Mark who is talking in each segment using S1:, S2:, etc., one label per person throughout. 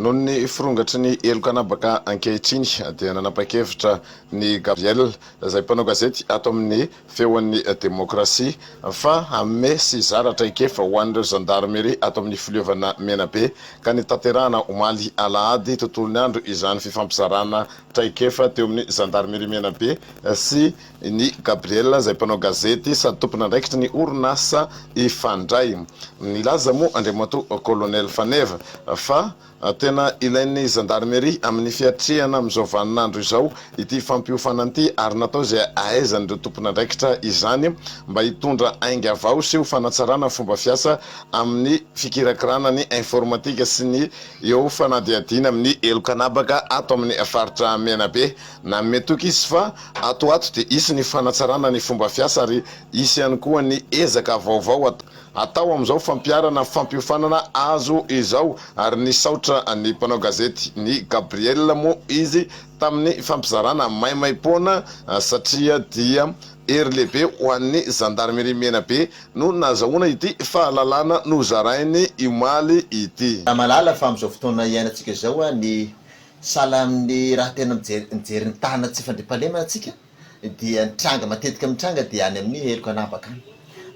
S1: Noho ny firongatry ny heloka anabaka ankehitriny dia nanapa-kevitra ny Gabriel, izay mpanao gazety ato amin'ny Feon'ny Demokrasia, fa hanome sy hizara traikefa ho an'ireo zandarmeria ato amin'ny Filiovana Menabe, ka nitanterahana omaly alahady tontolon'ny andro izany fifampizarana traikefa teo amin'ny Zandarmeria Menabe sy I Ny Gabriel izay mpanao gazety sady tompon'andraikitry ny orinasa Ifandray. Nilaza moa Andriamatoa Kolonely Faneva fa tena ilain'ny Zandarmeria amin'ny fiatrehana amin'izao vaninandro izao ity fampiofanana ity ary natao izay ahaizan'ireo tompon'andraikitra izany mba hitondra ainga vao sy ho fanatsarana fomba fiasa amin'ny fikirakirana ny informatika sy ny eo fanadihadiana amin'ny heloka anabaka ato amin'ny faritra Menabe. Nanome toky izy fa ato ho ato dia hisy ny fanatsarana ny fomba fiasa ary hisy ihany koa ny ezaka vaovao hatao amin'izao fampiharana fampiofanana azo izao ary nisaotra ny mpanao gazety ny Gabriel moa izy tamin'ny fampizarana maimaimpoana satria dia hery lehibe ho an'ny Zandarmeria Menabe no nazahoana ity fahalalana nozarainy omaly ity. Ramalala fa amin'izao
S2: fotoana iainantsika izao ny Sahala amin'ny raha tena mijery mijery ny tanana tsy fandriampahalemana antsika dia ny tranga matetika mitranga dia any amin'ny heloka anabaka any.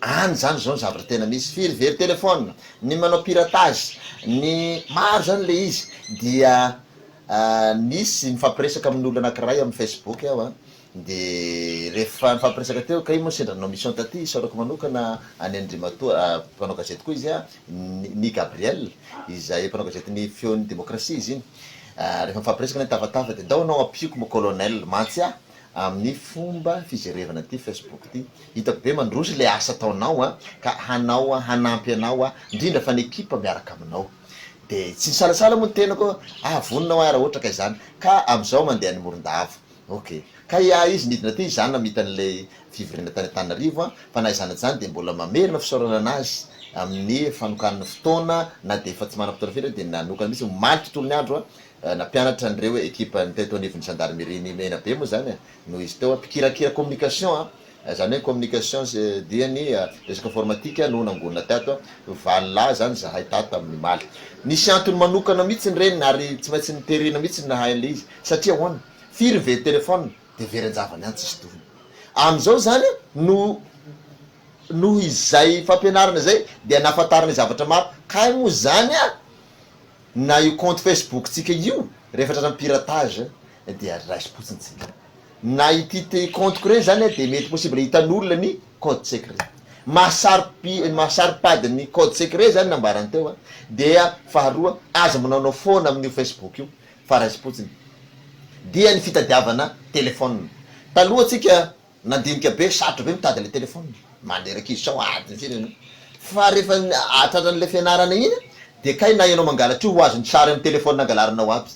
S2: Any izany izao ny zavatra tena misy. Firy very téléphone, ny manao piratage, ny maro izany ilay izy dia nisy nifampiresaka amin'olona anankiray amin'ny facebook aho a, Dia ref fa nifampiresaka teo kay moa sendra nanao mission taty isaorako manokana an'i Andrimatoa mpanao gazety koa izy an, ny Gabriel izay mpanao gazety ny feon'ny demokrasia izy iny rehefa mifampiresaka ny tafatafa dia ndao anao ampiako mo colonel mantsy aho amin'ny fomba fijerevana ity facebook ity hitako be mandroso ilay asa ataonao an ka hanao aho hanampy anao aho ndrindra fa ny ekipa miaraka aminao dia tsy nisalasala moa ny tenako aho vonona aho raha ohatra ka izany ka amin'izao mandeha any Morondava Ok. Kay ahy izy nidina teo izaho namita an'ilay fivoriana tany Antananarivo an, fa na izany na izany dia mbola mamerina fisaorana an'azy amin'ny fanokanany fotoana na dia efa tsy manana fotoana firy aho dia nanokana mihitsy omaly tontolo ny andro an, nampianatra an'ireo ekipan'ny teto anivon'ny zandarimerian'i Menabe moa izany an, no izy teo an, mpikirakira communication an, Izany hoe communication dia ny resaka informatika no nangonina tato, valilà izany izahay tato amin'ny maly. Nisy antony manokana mihitsy ny reniny ary tsy maintsy niterena mihitsy ny nahay an'ilay izy satria ahoana? firy ny very téléphone dia very an-javany ihany tsisy tohiny. Amin'izao izany no noho izay fampianarana izay dia nahafantarany zavatra maro, kay moa izany na io compte facebook-tsika io rehefa tratran'ny piratage dia raisim-potsiny tsika. Na ity te compte-ko ireny izany dia mety possible hitan'olona ny code secret. Mahasaro-pi mahasaro-pady ny code secret izany nambarany teo a! dia faharoa aza manaonao foana amin'io Facebook io fa raisim-potsiny dia ny fitadiavana telephone. Taloha tsika nandinika be sarotra be mitady ilay telephone maneraka izy sao adiny firy ianao fa rehefa tratran'ilay fianarana iny dia kay na ianao mangalatra io ho azony sary amin'ny telephone nangalarinao aby.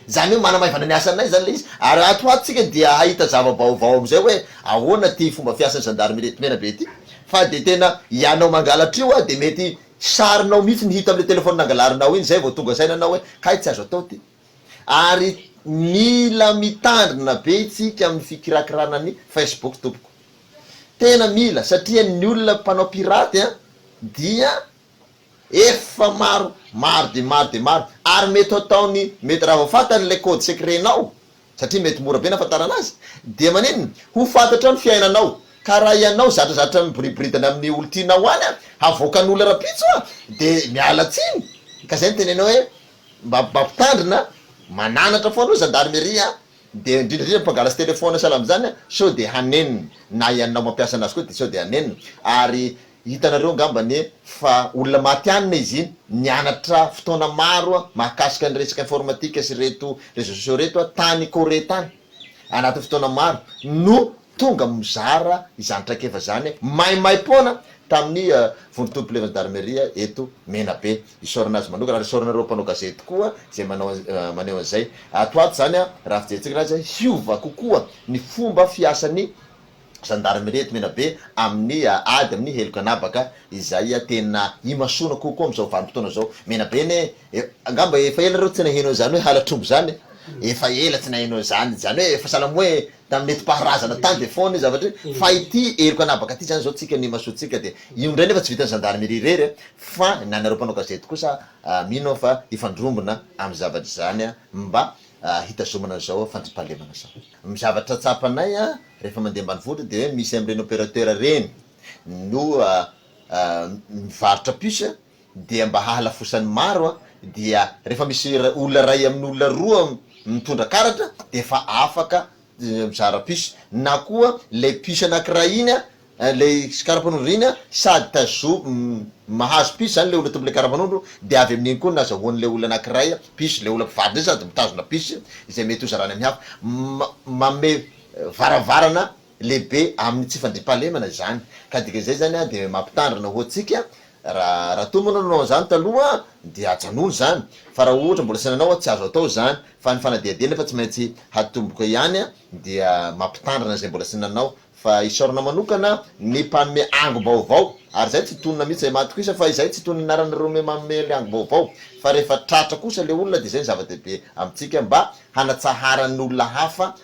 S2: Izany hoe manamaivana ny asanay izany ilay izy ary ato ho ato isika dia hahita zava-baovao amin'izay hoe ahoana ity fomba fiasan'ny zandarimaria eto Menabe ity fa dia tena ianao mangalatra io dia mety sarinao mihitsy ny hita amin'ilay telefaonina angalarinao iny izay vao tonga saina anao hoe kay tsy azo atao ity ary mila mitandrina be isika amin'ny fikirakirana ny Facebook tompoko tena mila satria ny olona mpanao pirate dia Efa maro, maro dia maro dia maro, ary mety hataony, mety raha vao fantany ilay code secret-nao, satria mety mora be ny hahafantarana azy, dia maninona, ho fantatra ny fiainanao, ka raha ianao zatrazatra miboriboridana amin'ny olon-tianao any, havoakan'olona rahampitso, dia miala tsiny, ka izay no tenenao hoe, mba mba mpitandrina, mananatra foana hoy Zandarmeria. Dia indrindra indrindra mpangalatsy téléphone sahala amin'izany sao dia hanenina, na ianao mampiasa anazy koa dia sao dia hanenina, ary hitanareo angamba anie fa olona matianina izy iny, nianatra fotoana maro mahakasika ny resaka informatique sy ireto réseaux sociaux ireto tany Corée tany, anatin'ny fotoana maro no tonga mizara izany traikefa izany maimaimpoana tamin'ny vondron-tolom-pilevan'ny Darmeria eto Menabe. Isaorana azy manokana ary isaorana ireo mpanao gazety koa izay manao maneho an'izay. Ato ato izany raha fijerentsika raha izay hiova kokoa ny fomba fiasan'ny zandarimeria eto Menabe amin'ny ady amin'ny heloka an'habaka izay tena imasoana kokoa amin'izao vanim-potoana izao. Menabe anie angamba efa ela nareo tsy naheno an'izany hoe halatr'omby izany e! Efa ela tsy naheno an'izany, izany hoe efa sahala amin'ny hoe tamin'ny netim-paharazana tany dia foana io zavatra io fa ity heloka anabaka ity izany izao tsika ny imasoantsika dia io indray nefa tsy vitan'ny gendarmerie irery a fa ny anareo mpanao gazety kosa mino aho fa hifandrombona amin'ny zavatra izany a mba hitazomana an'izao fandriampahalemana izao. Ny zavatra tsapanay a rehefa mandeha ambanivohitra dia hoe misy amin'ireny opérateur ireny no mivarotra puce dia mba hahalafosan'ny maro dia rehefa misy olona iray amin'ny olona roa mitondra karatra dia efa afaka mizara puce na koa ilay puce anankiray iny ilay karapanondro iny sady tazo mahazo puce izany ilay olona tompon'ilay karapanondro dia avy amin'iny koa nazahoan'ilay olona anankiray puce ilay olona mpivady indray sady mitazona puce izay mety hozarany amin'ny hafa manome varavarana lehibe amin'ny tsy fandriampahalemana izany ka dika izay zany dia mampitandrina ho antsika raha raha toa moa ianao nanao an'izany taloha dia ajanony izany fa raha ohatra mbola saina anao tsy azo atao izany fa ny fanadihadiana efa tsy maintsy hatomboka ihany dia mampitandrina izay mbola tsy nanao fa isaorana manokana ny mpanome angom-baovao ary izay tsy tonina mihitsy izay matokiisa fa izay tsy tonina ny anaran'ireo manome ilay angom-baovao fa rehefa tratra kosa ilay olona dia izay ny zava-dehibe amintsika mba hanatsaharan'ny olona hafa